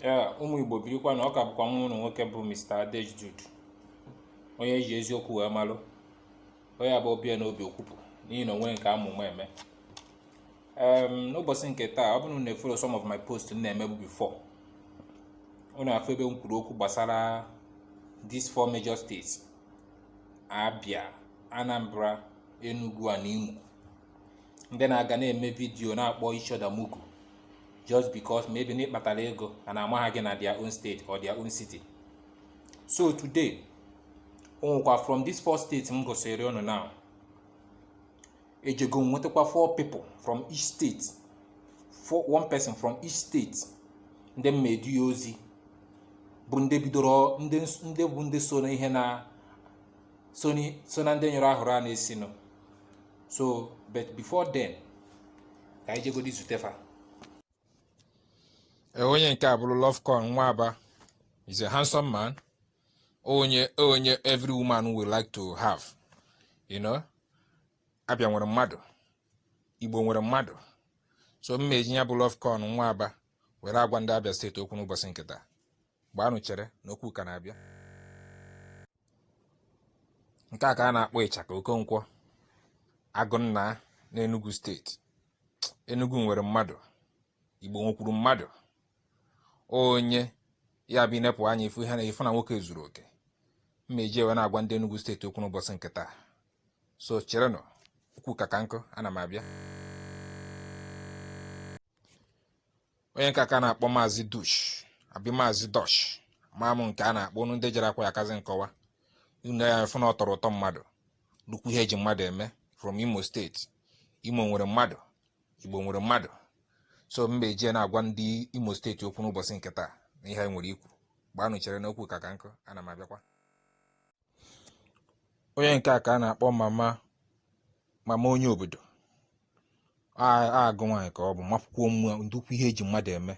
ee ụmụ igbo birikwanụ ọ ka bụkwa nwa unu nwoke bụ Mr. Adejdud onye ji eziokwu wee malụ onye bụ ọ bịa n'obi o kwupụ n'ihi na onwe nke amụma eme n'ụbọchị nke taa ọ bụrụ na efollow some of my post m na-emebu before unu afụ ebe m kwuru okwu gbasara these four major states Abia Anambra Enugu na Imo ndị na-aga na-eme vidiyo na-akpọ each other mugu just because maybe na ị kpatara ego a na-ama aha gị na their own state or their own city so today o nwekwa from these four states m gosiri unu now ejego m nwetakwa four people from each state four one person from each state ndị m ma-edu ya ozi bụ ndị bidoro ndị ndị bụ ndị so na ihe na so na ndị nyụrụ ahụrụ a na-esinụ so but before then ka anyị jegodi zute fa e, onye nke a bụrụ Lovecoin nwa Aba he's a handsome man onye onye every woman will like to have you know Abia nwere mmadụ igbo nwere mmadụ so m ma-eji ya bụ Lovecoin nwa Aba were agwa ndị Abia steeti okwu n'ụbọchị nke taa gbaanụ chere na okwu ka na-abịa nke a ka a na-akpọ ịchaka okonkwo agụnna n'enugu steeti enugu nwere mmadụ igbo nwekwuru mmadụ onye ya bụ i nepụ anya ị fụ ihe na ị fụ na nwoke zuru oke m ma-eji wee na-agwa ndị enugu steeti okwu n'ụbọchị nke taa so cherenụ okwu ka ka nkụ ana m abịa onye nke a ka a na-akpọ maazị dush abi maazị dosh ama m nke a na-akpọ unu ndị jere akwụkwọ ya-akazi nkọwa unu ya-afụ na o toro uto mmadụ nnukwu ihe e ji mmadụ eme from imo steeti imo nwere mmadụ igbo nwere mmadụ so m ma-eji na-agwa ndị imo steeti okwu n'ụbọchị nke taa na ihe nwere ikwu gbaanụ chere n'okwu ka ka nkụ ana m abịakwa onye nke a ka a na-akpọ mama mama onye obodo agụ nwaanyị ka ọ bụ makwụkwọ mmụọ nnukwu ihe e ji mmadụ eme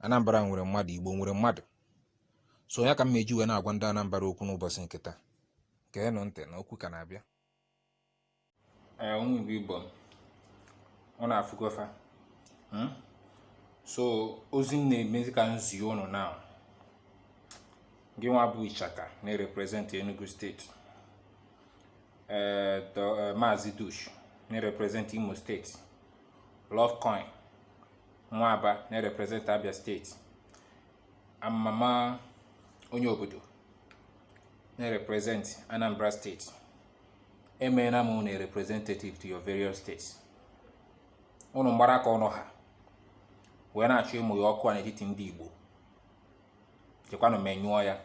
Anambra nwere mmadụ Igbo nwere mmadụ so ya ka m ma-eji wee na-agwa ndị Anambra okwu n'ụbọchị nke taa geenụ ntị na okwu ka na-abịa ee ụmụ igbo m unu afụgo fa hmm? so ozi m na-emezi ka m zi ụnụ now gị nwa bụ ichaka na-erepresent enugu steeti ee eh, eh, maazị dush na-erepresent imo steeti lovecoin nwa Aba na-erepresent abia steeti and mama onye obodo na-erepresent anambra steeti emeela m unu representative to your various states unu mgbara ka ọnụ ha wee na-achọ ịmụnye ọkụ a n'etiti ndị Igbo jekwanụ menyụọ ya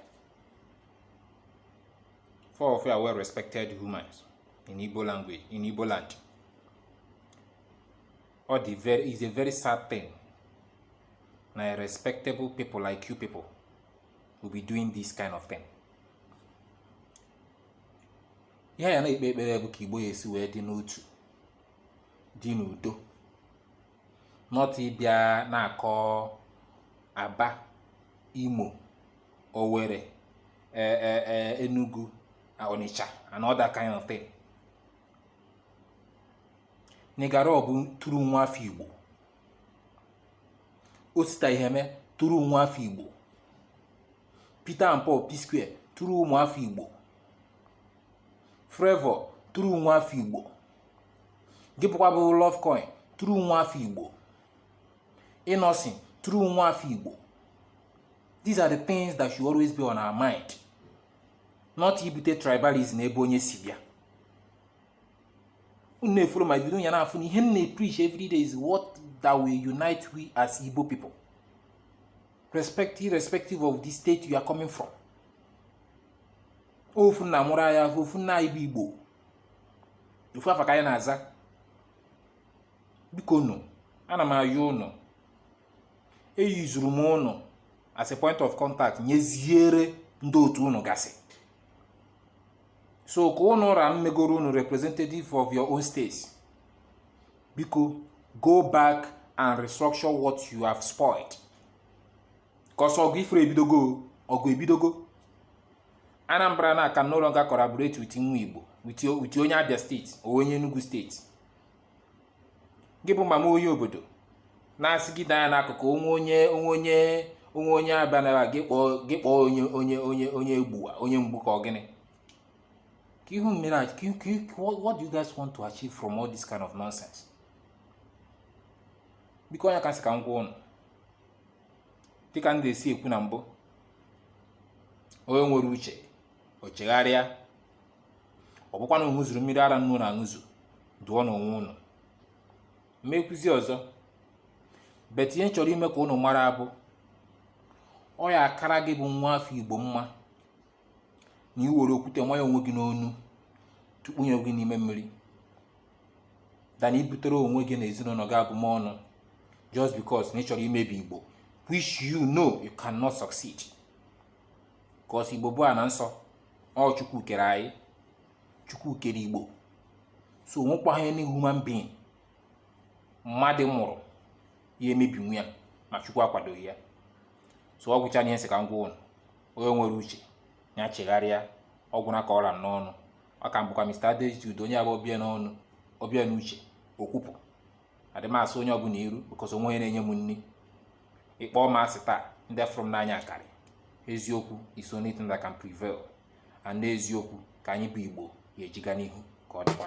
four of you are well respected humans in Igbo language in Igbo land ọ dị very it's a very sad thing na respectable people like you people will be doing this kind of thing ihe anyị na-ekpe ekpere bụ ka igbo ya-esi wee dị n'otu dị n'udo not ịbịa na-akọ aba imo owere e, e, e, enugu onitsha and other kind of thing Nigga Raw bụ true nwa afọ igbo Osita Iheme true nwa afọ igbo Peter and Paul P-Square true ụmụafọ Igbo Flavour true nwa afọ Igbo gị bụkwa bụ Ruffcoin true nwa afọ igbo Innoson true nwa afọ igbo these are the things that should always be on our mind not ibute tribalism ebe onye si bịa unu na-efollow my video ya na-afụ na ihe m na-epreach every day is what that will unite we as igbo people respect irrespective of the state you are coming from ofu nna mụrụ anyị ofu nna anyị bụ igbo ofu afa ka anyị na-aza bikonụ ana m ayọ ụnụ eyuzuru m ụnụ as a point of contact nyeziere ndị otu ụnụ gasị so ka ụnụ ra m megoro ụnụ representative of your own state biko go back and restructure what you have spoiled cause ọgụ ị fụrụ ebidogo ọgụ ebidogo anambra na can no longer collaborate with nwa igbo with o- with onye abia state or onye enugu state gị bụ mama onye obodo na-asị gị danya n'akụkụ onwe onye onwe onye onwe onye abịa na gị kpọọ gị kpọọ onye onye onye onye egbuwa onye mgbu ka ọ gịnị Can you even imagine? Can you, can you, what, what do you guys want to achieve from all this kind of nonsense? Biko ọ ya ka m sị ka m gwa ụnụ dịka m na-esi ekwu na mbụ onye nwere uche o chegharịa ọ bụkwa na ụnụ ṅụzuru mmiri ara nne ụnụ aṅụzu dụọnụ onwe ụnụ m ma-ekwuzi ọzọ but ihe m chọrọ ime ka ụnụ mara bụ ọ ya-akara gị bụ nwa afọ igbo mma na i were okwute nyanye onwe gị n'onu tụkpunye gị n'ime mmiri than ibutere onwe gị na ezinụlọ gị abụmọnụ just because na ị chọrọ imebi igbo which you know you cannot succeed cause igbo bụ ana nsọ ọ chukwu kere anyị chukwu kere igbo so o nwekwaghị any human being mmadụ mụrụ ya-emebinwu ya ma chukwu akwadoghị ya so ọ gwụcha ihe m sị ka m gwa ụnụ onye nwere uche ya chegharịa ọ gwụna ka ọ ra m n'ọnụ ọ ka m bụkwa Mr. Adeji Udo onye a bụ ọ bịa n'ọnụ ọ bịa n'uche o kwupụ adị m asọ onye ọbụla iru because o nweghị onye na-enye m nri ị kpọọ m asị taa ndị fụrụ m n'anya akarị eziokwu is only thing that can prevail and n'eziokwu ka anyị bụ Igbo ya-eji ga n'ihu ka ọ dịkwa